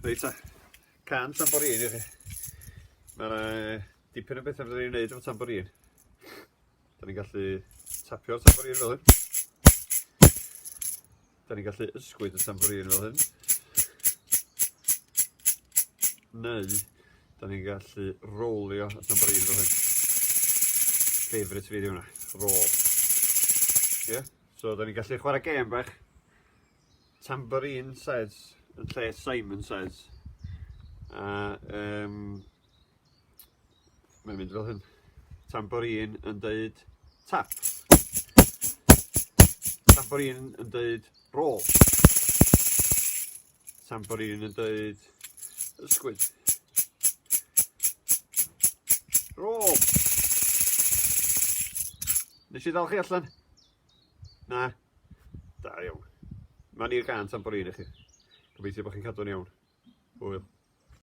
Reit ta, can tamborin i chi. Mae yna dipyn o bethau fydden ni'n gwneud efo tamborin. Da ni'n gallu tapio'r tamborin fel hyn. Da ni'n gallu ysgwyd y tamborin fel hyn. Neu, Da ni'n gallu rowlio at na bryd o hyn. Favourite fi di hwnna, roll. Ie? Yeah? So da ni'n gallu chwarae gêm bach. Tambourine says yn lle Simon says. A um, mae'n mynd fel hyn. Tambourine yn dweud tap. Tambourine yn dweud roll. Tamborin yn dweud ysgwyd. Rôl! Nes i ddal chi allan? Na? Da iawn. Mae'n i'r gan tamborin i chi. Gobeithio bod chi'n cadw'n iawn. Hwyl.